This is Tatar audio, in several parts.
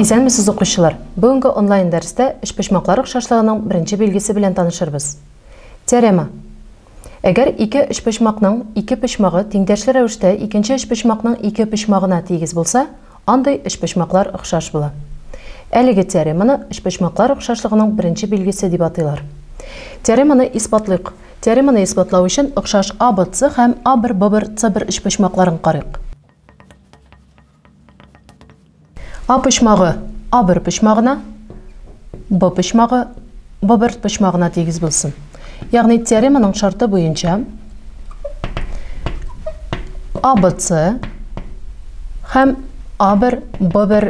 Исәнмесез, укучылар! Бүгенге онлайн-дәрестә өчпочмаклар охшашлыгының беренче билгесе белән танышырбыз. Теорема. Әгәр ике өчпочмакның ике почмагы тиңдәшле рәвештә икенче өчпочмакның ике почмагына тигез булса, андый өчпочмаклар охшаш була. Әлеге теореманы өчпочмаклар охшашлыгының беренче билгесе дип атыйлар. Теореманы исбатлыйк. Теореманы исбатлау өчен охшаш АБЦ һәм АБР-ББР-ЦБР өчпочмакларын карыйк. А почмагы А бер почмагына, Б почмагы Б бер почмагына тигез булсын. Ягъни теореманың шарты буенча ABC һәм A1 B1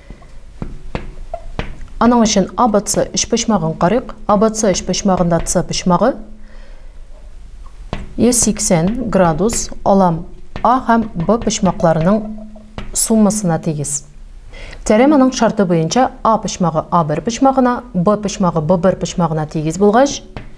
Аның өчен ABC өчпочмагын карыйк. ABC өчпочмагында C почмагы 180 градус алам A һәм B почмакларының суммасына тигез. Теореманың шарты буенча A почмагы A1 почмагына, B почмагы B1 почмагына тигез булгач,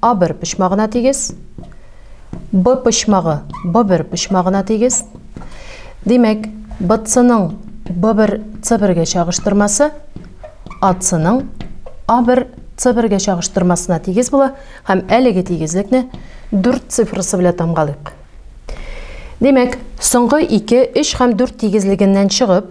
А бер почмагына тигез. Б почмагы Б бер почмагына тигез. Димәк, БЦның Б бер С бергә чагыштырмасы АЦның А бер С бергә чагыштырмасына тигез була һәм әлеге тигезлекне дүрт цифрасы белән тамгалыйк. Димәк, соңгы ике, өч һәм дүрт тигезлегеннән чыгып,